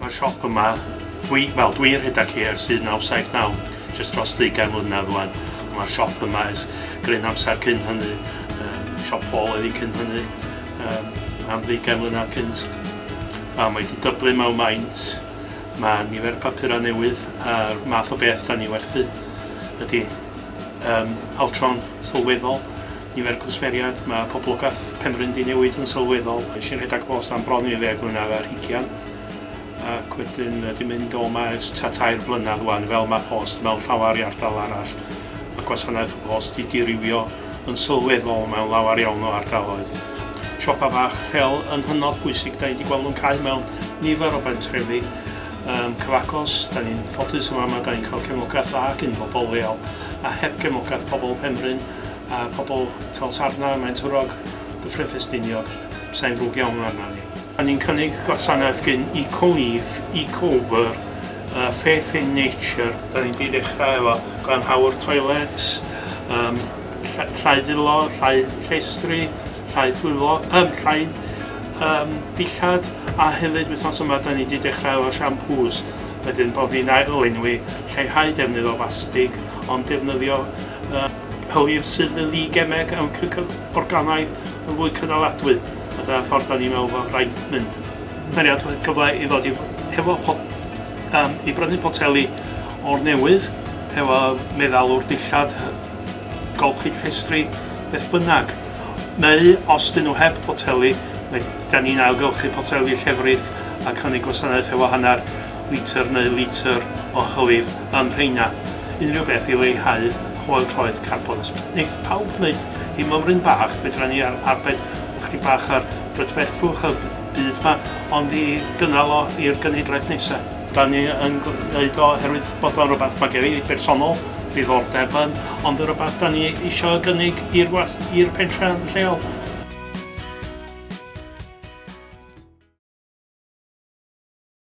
Mae'r siop yma, dwi, wel, dwi rhedeg hi ers 1979, jyst dros ddeugain mlynedd rwan. Mae'r siop yma ers gryn amser cyn hynny, um, siop Paul oedd hi cyn hynny, um, am ddeugain mlynedd cynt. A mae wedi dyblu mewn maint, mae nifer y papurau newydd a'r math o beth da ni werthu ydy um, altron sylweddol. Nifer cwsmeriaid, Mae poblogaeth Penrhyn 'di newid yn sylweddol. Es i'n rhedeg post am bron i ddeg mlynedd ar hugian ac wedyn 'di mynd o 'ma ers tua tair blynedd ŵan fel ma' post mewn llawar i ardal arall. Ma' gwasanaeth y post 'di dirywio yn sylweddol mewn lawer iawn o ardaloedd. Siopa bach lleol yn hynod bwysig, 'da ni 'di gweld nhw'n cau mewn nifer o bentrefi yym cyfagos. 'Da ni'n ffodus yn fama, 'da ni'n cael cefnogaeth dda gin bobl leol a heb gefnogaeth pobl Penrhyn a pobl Talsarna, Maentwrog, Dyffryn Ffestiniog, sai'n ddrwg iawn arna ni. A ni'n cynnig gwasanaeth gin Ecoleaf, Ecover, uh, Faith in Nature. Da ni'n di ddechrau efo glanhawr toilets, um, llai ddilo, llai llestri, llai dwylo, um, llai um, dillad, a hefyd wythnos yma da ni'n di dechrau efo shampoos. Wedyn bod ni'n ail-lenwi lleihau defnydd o fastig, ond defnyddio a hwyr sydd yn ddi-gemeg am creu organaidd yn fwy cynaladwy, a dyna ffordd da ni'n meddwl fod rhaid mynd. Mae'n rhaid rhoi cyfle i ddod i hefo pot, um, i brynu poteli o'r newydd, hefo meddalwr dillad, golchi llestri, beth bynnag. Neu, os dyn nhw heb boteli, mae, da ni'n ailgylchu poteli llefrith ac hynny gwasanaeth hefo hanner litr neu litr o hylif. am rheina, unrhyw beth i leihau hoel troed carbon. Os wneith pawb wneud ei mymryn bach, fedra ni ar arbed ychydig bach ar brydferthwch y byd yma, ond i gynnal o i'r genhedlaeth nesaf. Da ni yn gwneud o oherwydd bod o'n rhywbeth mae gen i bersonol ddiddordeb yn, ond yn rhywbeth da ni isio gynnig i'r was- i'r pentre lleol.